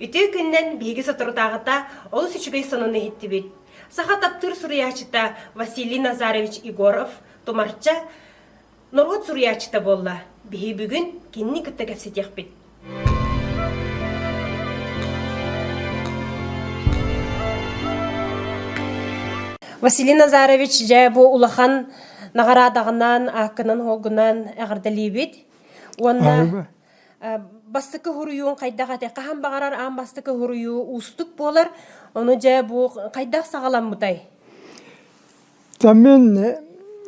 Үтүө күннэн биһиги соторутааҕыта олус үчүгэй сонуну иһиттибит. Саха таптыыр суруйааччыта Василий Назарович Егоров Тумарча норуот суруйааччыта буолла. Биһи бүгүн кинини кытта кэпсэтиэхпит. Василий Назарович дьэ бу улахан наҕараадаҕынан ааккынан-хуогунан эҕэрдэлиибит уонна бастакы хоруйуун хайдах ате хаһан баҕарар аан бастакы хоруйуу уустук буолар ону дьэ бу хайдах саҕаламмытай Тамын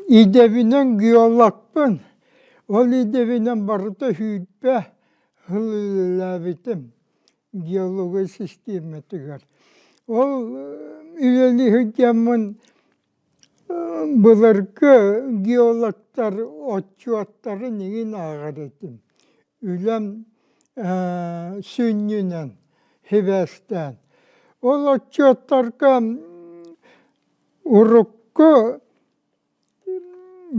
идебинен геологпын. Ол идебинен барыта hüytbe hılılabittim геология систематыгар. Ол үлэлиһигэммин Былыргы геологтар отчуоттарын иһин ааҕар этим. Үлэм сүнньүнэн сибээстээн. Ол отчуоттарга урукку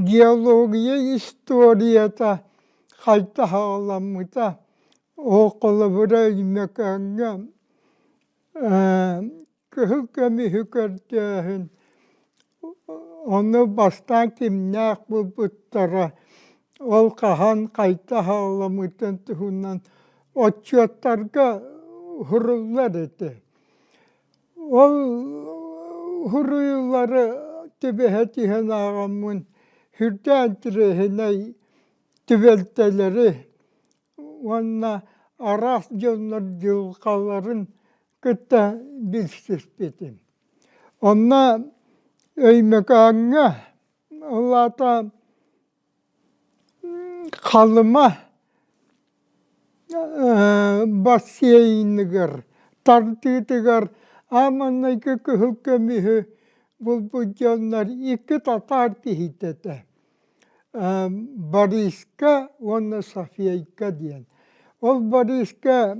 геология историята хайдах аҕаламмыта, холобура Өймөкөөҥҥө кыһыл көмүһү көрдөөһүн онно бастаан кимнээх буолбуттара ол хаһан хайта аһаҕаламмытын туһунан отчуоттарга уһуруллар этэ ол уһуруйуулары түбэһэ түһэн ааҕаммын үрдээн тирэһинэй түбэлтэлэри уонна араас дьоннор дьылҕаларын кытта билсиспитим. Онно Өймөкөөҥҥө, ол аата Халыма бассейныгар, тардыытыгар ааманнайгы кыһыл көмүһү булбут дьоннор икки татаар киһитэ этэ. Бориска уонна Софейка диэн. Ол Бориска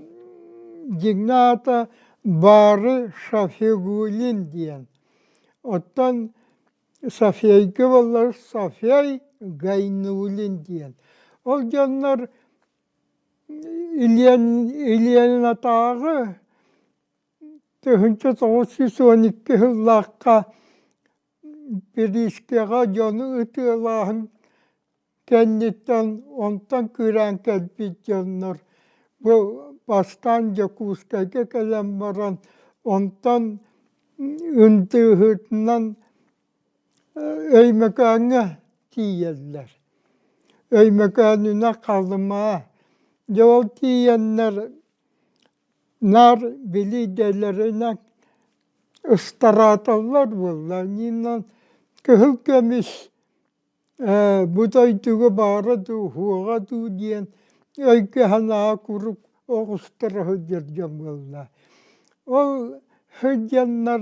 дьиҥнээх аата Баары Шафигуллин диэн. Оттон Софейка буоллар Софей Гайнуллин диэн. Ол дьоннор Ильин Ильинатааҕы тыһыынча тоҕус сүүс уон икки сыллаахха Бириискэҕэ дьону ытыалааһын кэнниттэн онтон кыыраан кэлбит дьоннор бу бастаан Дьокуускайга кэлэн баран онтон ындыыһытынан Өймөкөөҥҥө тиийэллэр. Өймөкөөнүнэн Халымаа, дьэ ол тиийэннэр наар билиидэлэринэн ыстарааталлар буолла иннинэн кыһыл көмүс ээ бу дойдуга баара дуу уһуоҕа дуу диэн өйгө санаа куруук оҕустара сылдьар дьон буолла ол сылдьаннар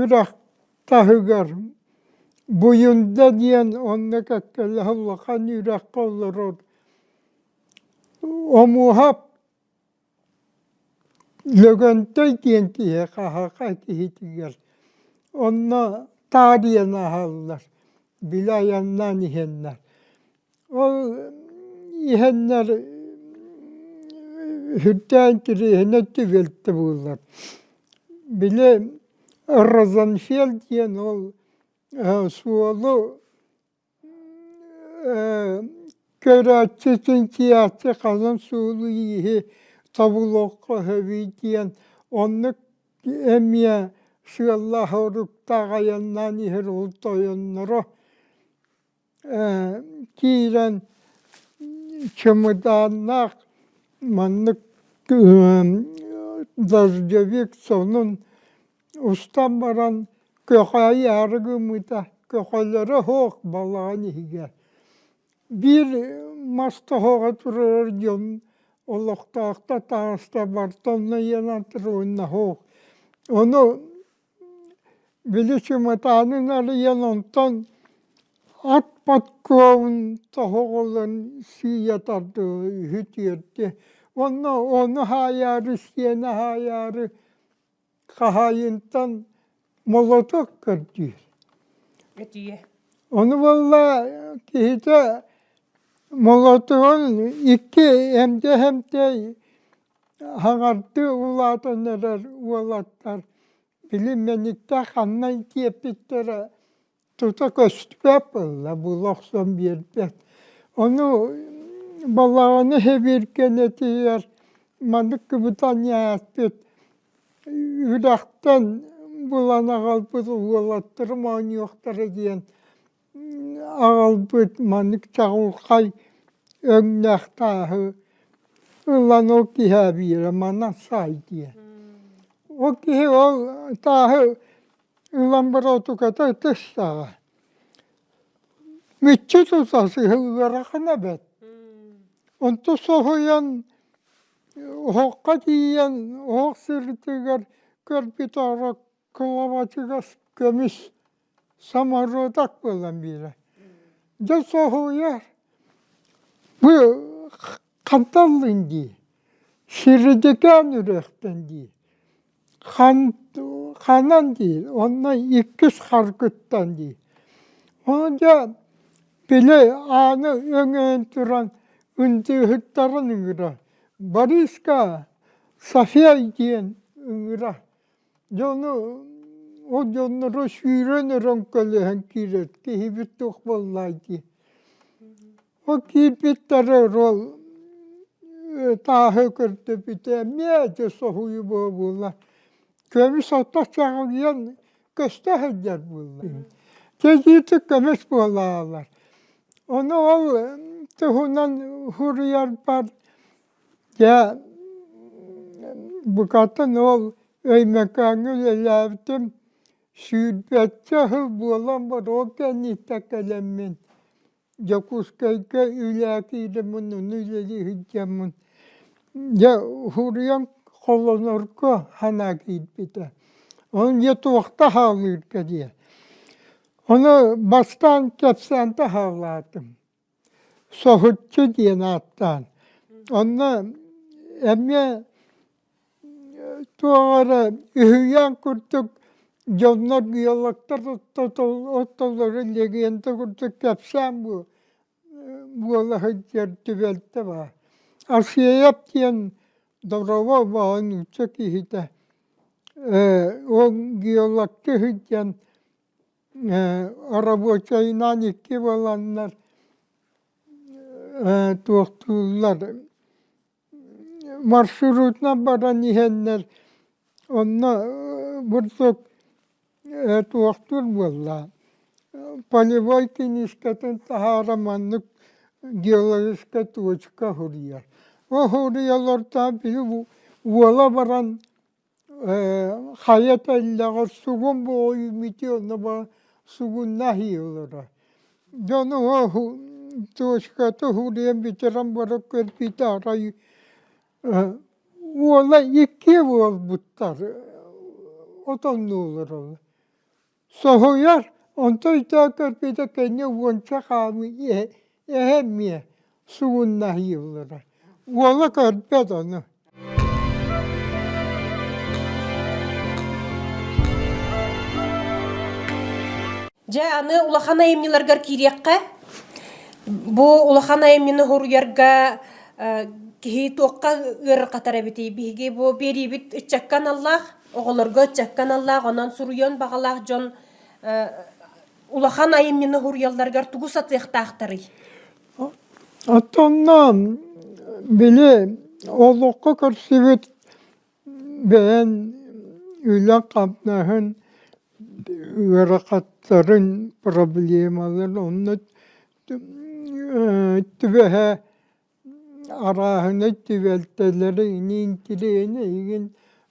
үрэх таһыгар Буюнда диэн онно кэккэлэһэ улахан үрэххэ олорор Омуһап Лөгөнтөй диэн киһи хаһыаха киһитигэр онно таарыйан аһаллар били айаннаан иһэннэр Ол иһэннэр үрдээн кириэһинэ тигилтэ буоллар. Били розенфельд диэн ол суолу көрөөччү син кийээччи ханан суолу-ииһи тобулуохха сөбүй диэн оннук эмиэ сыаллаах-соруктаах айаннаан иһэр ол тойонноро киирэн чемодааннаах маннык дождевик сонун устан баран көхөөйү аары гыммыта көхөлөрө суох балаҕан иһигэр биир мас тоһоҕо турар дьон олохтоохтор таҕыста бартонна ен антронино суох ону Били чыматаанын арыйан онтон ат подкобун тоһоҕолон сыыйа тардыһа үһү түөртэ уонна ону хаайаары сиэн аһаайаары хаһаайынтан молоток көрдүүр ону буолла киһитэ молотугун икки эмдэ эмтэй Хаҥардыы улаатан эрэр уолаттар били мэниктэй ханна тиэппиттэрэ тута көстүбэт буолла була охсон биэрбэт. Ону балаҕаны сэбиэркэлэтиһэр маннык кыбытаниаспыт үрэхтэн булан аҕалбыт уолаттарым оонньуохтара диэн аҕалбыт маннык чаҕылхай өҥнөөх тааһы ылан ол киһи эбиирэ манан саай диэн ол киһи ол тааһы ылан бороотуката ытыстаҕа мүччү тута сыһы ыарахана эбэт онту соһуйан оһоххо тиийэн оһох сырытыгар көрбүт оро кылабачыгас көмүс Соморуотак буолан биэрэ. Дьэ соһуйар, бу ханталлын дии, сиридикээн үрүөхтэн дии. Ханан диир, онно иккис харгыттан дии. Ол дьэ били ааны өҥөйөн туран ындыыһыттарын ыҥыра. Бориска София диэн ыҥыра. Дьону ол дьонноро сүүрэн эрэн көлөһөн киирэр киһибит туох буоллай дии. Ол киирбиттэрэ ол тааһы көрдөбүтэ эмиэ дьэ соһуйу буолла. Көмүс ото чаҕыйан көстө сылдьар буолла. Кэлиитик көмүс буолаалар. Ону ол туһунан суруйарбар Дьэ букатын ол Өймөкөөҥҥө үлэлээбитим сүүрбэччэ сыл буолан боруок кэнниттэн кэлэммин Дьокуускайга үлэ киирэн муннуну үлэлии сылдьаммын дьэ уһуруйан холонорго санаа киирбитэ ол дьэ туохта саҕалыырга диye ону бастаан кэпсээн таһаалаатым соһуччу диэн ааттаан онно эмиэ туох эрэ үһүйээн курдук дьоннор геологтар оттоллорун легенда курдук кэпсээн буола сылдьар түбэлтэ баар асеев диэн добровольно нуучча киһитэ ол геологка сылдьан Оробуочайнаан икки буоланнар туохтууллар маршрутунан баран иһэннэр онно бурдук туохтуур буолла полевой киниискэтин таһаара маннык геологическай точка уһуруйар ол уһуруйа олортоон били уола баран Ээ хайа тэллэҕэр сугун буойуммут онно баар сугун наһыылара дьону туочка туһулуйан бүтэрэн баран көрбүтэ арай уола икки буолбуттар отоннууллар ол Соһуйар, онтон өйдөөн көрбүтэ тэҥҥэ уонча хаамыы иһэ эһэ эмиэ сугуннаһыыллара. Уола көрбөт ону. Дьэ, аны улахан айымньыларгар киириэххэ. Бу улахан айымньыны хоруйарга киһи туохха ыарырҕатар эбитий? Биһиги бу биэриибит ыччакка аналлаах. оҕолорго ыччакка аналлаах онон суруйуон баҕалаах дьон улахан айымньыны уһуруйалларыгар тугу сатыахтаахтарый? Оттоннон били олоххо көрсүбүт бэйэн үлэ-хамнаһын, ыарахаттарын, проблемаларын онно түбэһэ Арааһынай түбэлтэлэри, интириэһинэй игин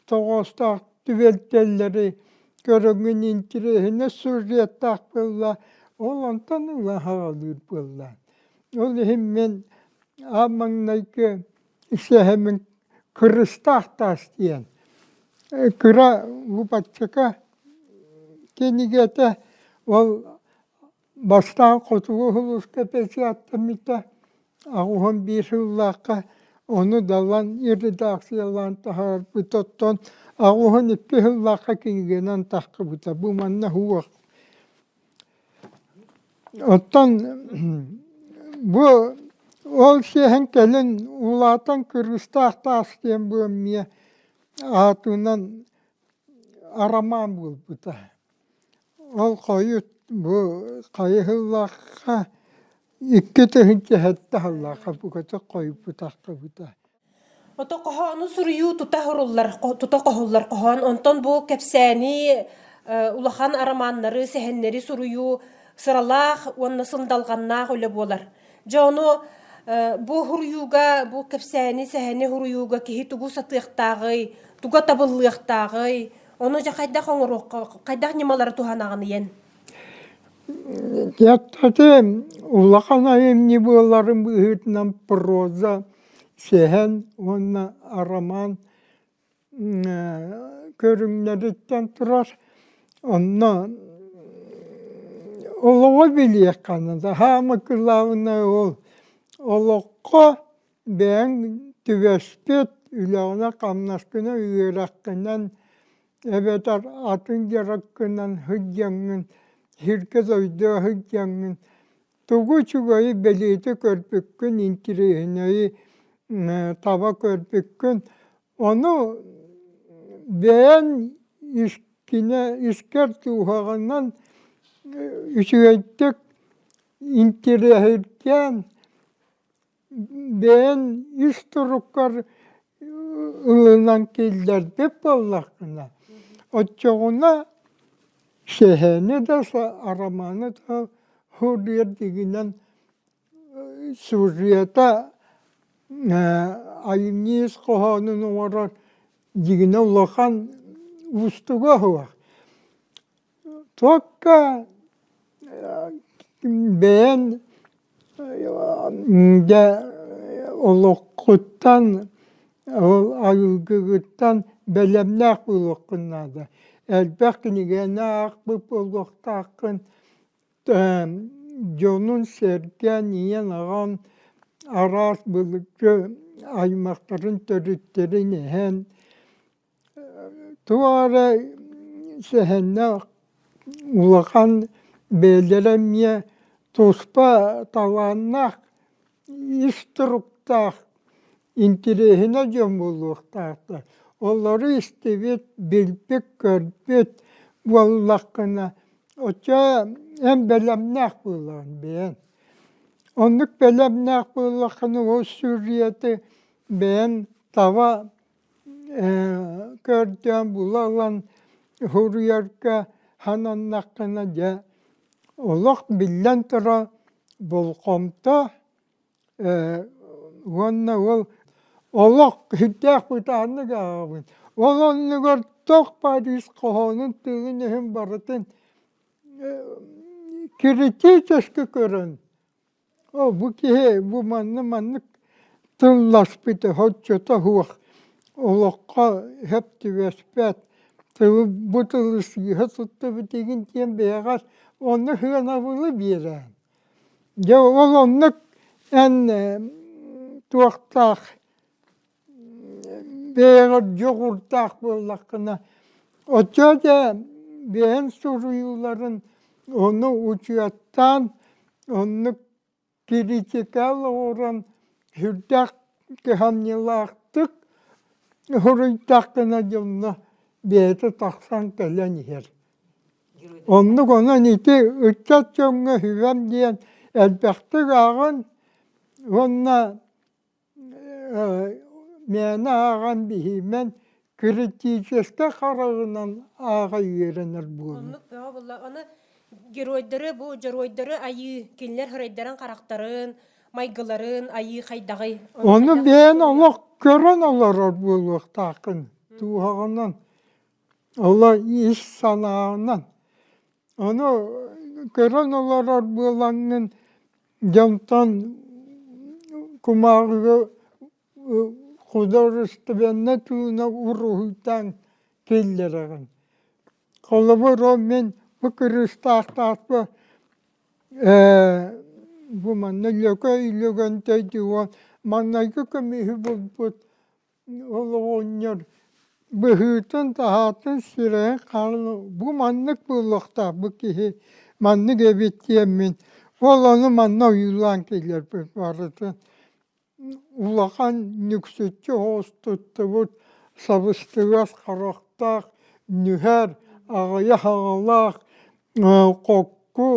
тоҕоостоох түбэлтэлэри көрөҥҥүн интириэһинэй сюжеттаах буолла, ол онтон ыла саҕалыыр буоллаан. Ол иһин мин аан маҥнайгы сэһэмим «Кырыстаах таас» диэн кыра лупаччыка кинигэтэ, ол Бастаан хотугу улууска печатьтаммыта аҕыһын биир сыллаахха ону далан редакциялаан таһаарбыт оттон аҕыһын икки сыллаахха кинигэнэн таххыбыта бу манна уох оттон бу ол сиэһин кэлин улаатан кыргыстаах таас диэн бу эмиэ аатынан арамаан буолбута Ол хойут бу хайыһыллахха икки тыһыынча сэттэ аһыллаахха букатык хойуппутаххыбыта ото хоһоону суруйуу тута оһоруллар тута хоһуллар хоһоон онтон бу кэпсээни улахан арамааннары сэһэннэри суруйуу сыралаах уонна сындалҕаннаах үлэ буолар дьэ ону бу уһуруйууга бу кэпсээни сэһэни уһуруйууга киһи тугу сатыахтааҕый туга табыллыахтааҕый Ону дьэ хайдах оҥоруохха, хайдах ньымалары туһанаҕыныйын? Дьаттаты улахан айымньы буоларын быһыытынан проза, сэһэн уонна арамаан көрүҥнэриттэн турар. Онно олоҕу билиэххэ наада. Хаама кылаабынай ол олоххо бэйэҥ түбэспит үлэҕинэ-хамнаскына үөрэххинэн эбэтэр атын дьарыккынан сылдьаҥҥын сиргэ дойдуга сылдьаҥҥын тугу үчүгэйи бэлиэтэ көрбүккүн интириэһинэйи таба көрбүккүн ону бэйэн искинэ искэр дууһаҕынан үчүгэйдик интириэһиргээн бэйэн ис туруккар ылынан киллэрбит буоллаххына оччоҕуна сэһээни да арамааны да суруйар дигинэн сюжета айымньы ис хоһоонун оҥорор дигинэ улахан уустуга суох Туокка бэйэн дьэ олоххуттан арыгыгыттан бэлэмнээх буолуоххун наада. Элбэх кинигэни аахпыт буолуохтааххын дьонун сэргээн ийэн-аҕаҥ араас былыргы аймахтарын төрүттэрин иһэн Туох эрэ сэһэннээх улахан бэйэлэрэ эмиэ туспа талааннаах, ис туруктаах, интириэһинэй дьон буолуохтаахтар. Олору истибит, билбит-көрбүт буоллаххына оччо эн бэлэмнээх буолаҕын бэйэҥ. Оннук бэлэмнээх буоллаххына ол сүрүйэтэ бэйэҥ таба көрдөөн була ылан суруйарга сананнаххына дьэ олох биллэн турар болҕомто уонна ол олох сүрдээх бытааннык ааҕабын ол оннугар туох парис хоһоонун тыгын өһүн барытын критически көрөн Оо, бу киһи бу манна маннык тылласпыты соччото суох олоххо сөп түбэспэт тылы бу тылы сыыһа туттубут игин диэн бэйэҕэр онно сыанабылы биэрээн дьэ ол оннук эн туохтаах бэйэҕэр дьоҕурдаах буоллаххына оччо да бэйэҥ суруйууларын ону учуоттаан оннук критикал оҥорон сүрдээх кыһамньылаахтык суруйтаххына дьонно бэйэтэ тахсан кэлэн иһэр оннук онон ити ыччат дьоҥҥо сүбэм диэн элбэхтик ааҕан уонна Мээнэ ааҕан биһиимэн критическэй хараҕынан ааҕа үөрэнэр буолуо. Оннук бөҕө буолла. Аны геройдары бу дьоруойдары айыы кинилэр һырайдарын харахтарын, майгыларын айыы хайдаҕый? Ону бэйэн олох көрөн олорор буолуохтааххын дууһаҕынан, олох ис санааҕынан. Ону көрөн олорор буолаҥҥын Дьонтон кумааҕыга художественнай тыынах уруһуйтаан киллэрэҕин. Холобур, ол мин бу кырыыстаахтаахпы бу манна Лөкөй Өлөгөнтөй диэн уол маҥнайгы көмүһү булбут ол оҕонньор быһыытын-таһаатын сүрэйин хаалан бу маннык буолуохтаах бу киһи маннык эбит диэммин ол ону манна ойуулаан кэлэрбин барытын улахан нүксүччү оҕус туттубут сабыстыгас харахтаах нүһэр аҕыйах аҕалаах хокку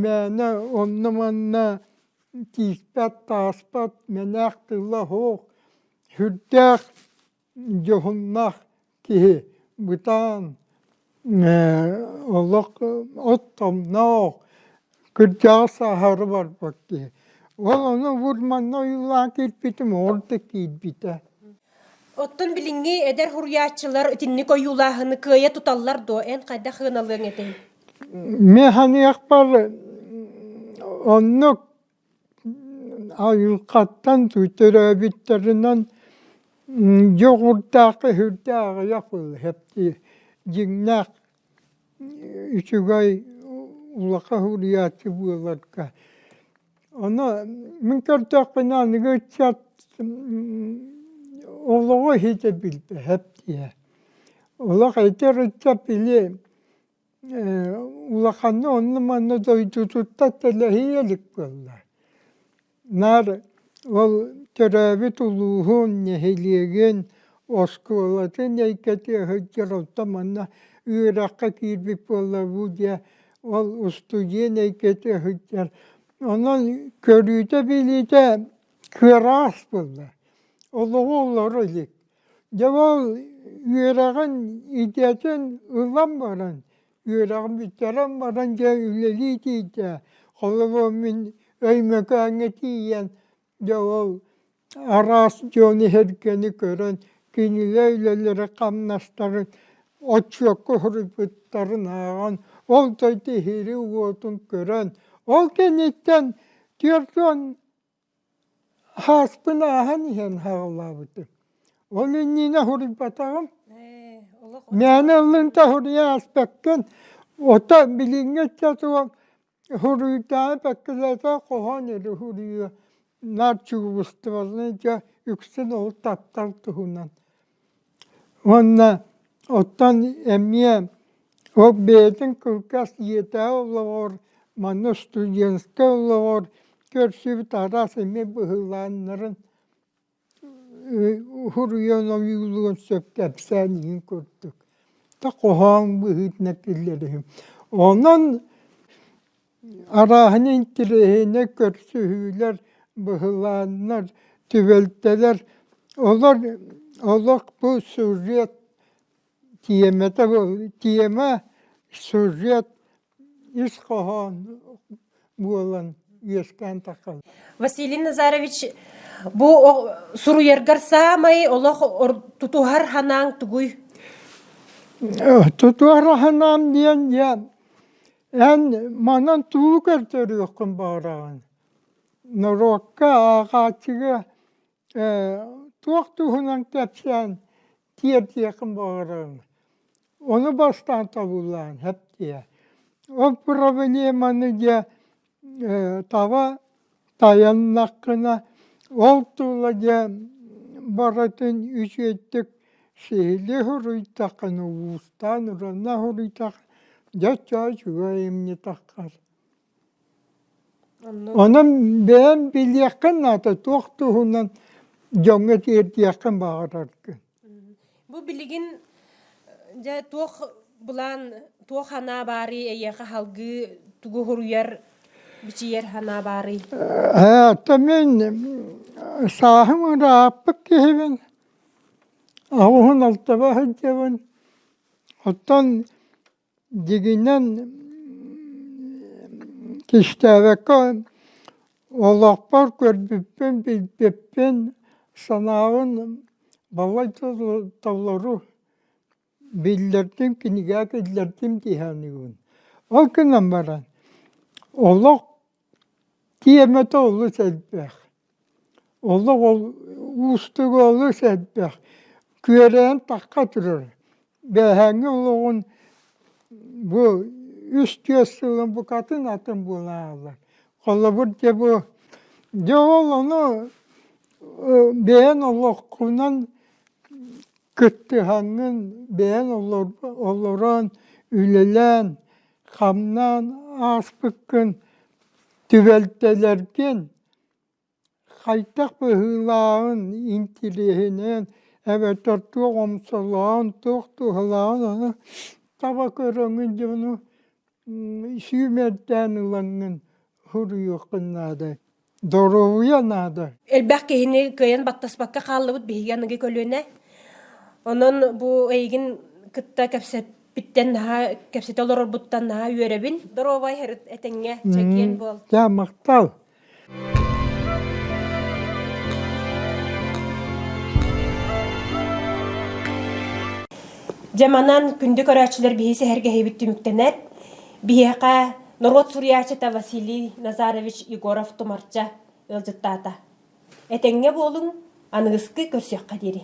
мээнэ онно-манна тииспэт тааспат мэнээх тыла-оһуох сүрдээх дьоһуннаах киһи бытаан олох от-томноох кырдьаҕас аһары барбат киһи ол ону бур манна ойуулаан киирбитим оҕор да киирбитэ оттон билиҥҥи эдэр суруйааччылар итинник ойуулааһыны кыайа туталлар дуо эн хайдах сыаналыаҥ этэй Механиакпар оннук айылҕаттан төрөөбүттэринэн дьоҕурдаах-өһүрдээх аҕыйах былаһыаптыы дьиҥнээх үчүгэй улахан уһуйааччы буоларга Ону мин көрдөхпүнэ аныгы ыччат олоҕу иһитэ билбэт диэ. Олох эдэр ыччат били улаханна онно-манна дойдутуттан тэлэһийэ илик буолла. Наар ол төрөөбүт улууһун, нэһилиэгин, оскуолатын эйгэтэ сылдьар, оттон манна үөрэххэ киирбит буолла бу диэ Ол устудьуонай көтө сылдьар. Онон көрүүтэ-билиитэ кыараас буолла. Олоҕу олоро илик. Дьэ ол үөрэҕин идэтин ылан баран, үөрэҕин бүтэрэн баран дьэ үлэлии тиийдэ. Холобур, мин Өймөкөөҥҥө тиийэн Дьэ ол араас дьон иһэргэни көрөн кинилэр үлэлэрэ-хамнастарын оччуокка хоруйбуттарын ааҕан ол дойду иһири-уотун көрөн ол кэнниттэн түөрт уон ааспын ааһан иһэн хааллаабытым. Ол иннинэ хоруйбатаҕым. Мээнэ ыллыҥ да хоруйа ааспаккын. Ото билиҥҥи оччотугар Уһуруйдаах бэккилэтэ хоһоон или уһуруйуо наар чугуустубалыы дьэ үксүн ол таптал туһунан уонна оттон эмиэ ол бэйэтин кылгас ийэтээҕи олоҕор манна студентскай олоҕор көрсүбүт араас эмиэ быһыылааннарын Уһуруйан ойуулуон сөп кэпсээн иһин курдук да хоһооҥ быһыытынан киллэриһим. Онон арааһын интириэһинэй көрсүһүүлэр, быһылааннар, түбэлтэлэр олор олох бу сюжет тиэмэтэ тиэмэ сюжет ис хоһоон буолан үөскээн таххын. Василий Назарович бу суруйаргар саамай олох тутуһар ханаан тугуй? Тутуһар ханаан диэн диэн эн манан тугу көрдөрүөххүн баҕараҕын норуокка ааҕааччыга туох туһунан кэпсээн тиэрдиэххин баҕараҕын ону бастаан тобуллаан хэптиэ ол проблеманы дьэ таба тайаннаххына ол тула дьэ барытын үчүгэйдик сиһилии суруйтаххына уустаан уранна суруйтаххына дьэ оччо үчүгэй эмне таххар Онон бэйэм билиэххин наада туох туһунан дьоҥҥо тиэрдиэххин баҕараргын Бу билигин дьэ туох былаан туох санаа баарый эйиэхэ салгыы тугу суруйар бичийэр санаа баарый ээ то мин сааһым ырааппыт киһибин аҕуһун алтыба сылдьабын оттон дигинэн кистээбэккэ олохпор көрбүппүн билбиппин санаабын балайда толору биллэрдим кинигэ киллэрдим дии саныыбын ол гынан баран олох Тиэмэтэ олус элбэх. Олох ол уустуга олус элбэх. Күөрэйэн тахха турар. Бээһээҥҥи олоҕун бу үс түөрт сылын букатын атын буолааллар. Холобур дьэ бу дьэ ол ону бэйэн олоххунан кыттыһаҥҥын, бэйэн олорон, үлэлээн Хамнаан ааспыккын түбэлтэлэргин, хайдах быһыылааҕын интириэһинэн эбэтэр туох омсолоон, туох туһалааҕын аны таба көрөҥҥүн дьону сүүмэрдээн ылаҥҥын суруйуоххун наада. Доруобуйа наада. Элбэх киһини кыайан баттаспакка хааллыбыт биһиги аныгы көлүөнэ. Онон бу эйигин кытта кэпсэппиттэн наһаа кэпсэтэ олорорбуттан наһаа үөрэбин. Доруобай этэҥҥэ чэгиэн буол. Дьэ махтал. Дьэ манан күндү көрөөччүлэр биһи сэһэргэһиибит түмүктэнэр. Биһиэхэ Норуот суруйааччыта Василий Назарович Егоров-Тумарча ыалдьыттаата. Этэҥҥэ буолуҥ, аныгыскы көрсүөххэ диэри.